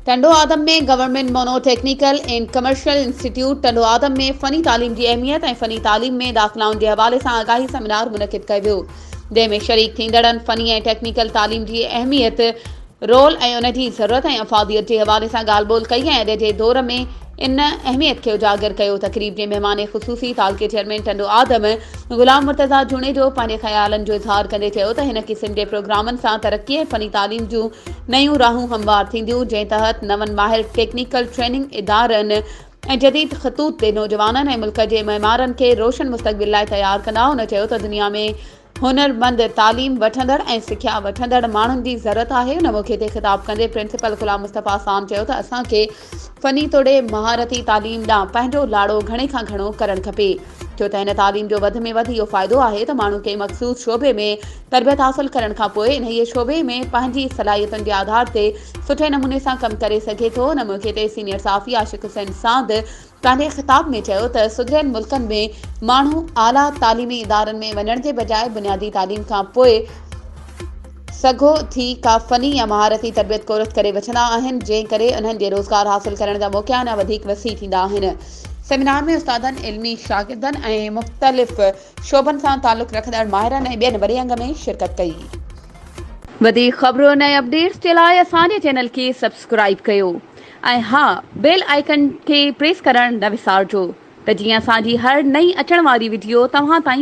Tando Adam ۾ government mono technical and commercial institute Tando Adam ۾ فني تعليم جي اهميت ۽ فني تعليم ۾ داخلائن جي حوالي سان آگاهي سيمينار منعقد ڪيو ويو جنهن ۾ شريڪ ٿيندڙن فني ۽ ٽيڪنيڪل تعليم جي اهميت رول ۽ ان جي ضرورت ۽ افاديت جي حوالي سان ڳالهه ٻولهه ڪئي ۽ اڄ جي دور ۾ ان اهميت کي اجاگر ڪيو. تقريب جي مهمان خصوصي تعلقي چيئرمين ٽنڊو آدم غلام مرتضيٰ جوڻيجو پنهنجي خيالن جو اظهار ڪندي چيو ته هن قسم جي پروگرامن سان ترقي ۽ فني تعليم جون نيون راهون هموار ٿينديون جنهن تحت نون ماهر ٽيڪنيڪل ٽريننگ ادارن ۽ جديد خطوط تي نوجوانن ۽ ملڪ جي معمارن کي روشن مستقبل لاء تيار ڪندا هن چيو ته دنيا ۾ هنرمند، تعليم وٺندڙ ۽ سکيا وٺندڙ ماڻهن جي ضرورت آهي ان موقعي تي خطاب ڪندي پرنسپل غلام مصطفيٰ سام چيو ته اسان کي فني توڙي مهارتي تعليم ڏانهن پنهنجو لاڙو گهڻي کان گهڻو ڪرڻ کپي ڇو ته هن تعليم جو وڌ ۾ وڌ اهو فائدو آهي ته ماڻهو ڪنهن مخصوص شعبي ۾ تربيت حاصل ڪرڻ کان پوء انهيء شعبي ۾ پنهنجي صلاحيتن جي آڌار تي سٺي نموني سان ڪم ڪري سگهي ٿو ان موقعي تي سينيئر صحافي عاشق حسين ساند ڪانڌي خطاب ۾ چيو ته سڌريل ملڪن ۾ ماڻهو اعليٰ تعليمي ادارن ۾ وڃڻ جي بجاء بنيادي تعليم کان پوء سگهو ٿي ڪا فني يا مهارتي تربيت ڪورس ڪري وٺندا آهن جنهن ڪري انهن جي روزگار حاصل ڪرڻ جا موقعا اڃا وڌيڪ وسيع ٿيندا آهن. سيمينار ۾ استادن، علمي شاگردن ۽ مختلف شعبن سان تعلق رکندڙ ماهرن ۽ ٻين وڏي انگ ۾ شرڪت ڪئي. وڌيڪ خبرون ۽ اپڊيٽس جي لاء اسان جي چينل کي سبسڪرائيب ڪيو. ۽ ها بيل آئيڪن کي پريس ڪرڻ نه وسارجو ته جيئن اسان جي هر نئين اچڻ واري وڊيو توهان تائين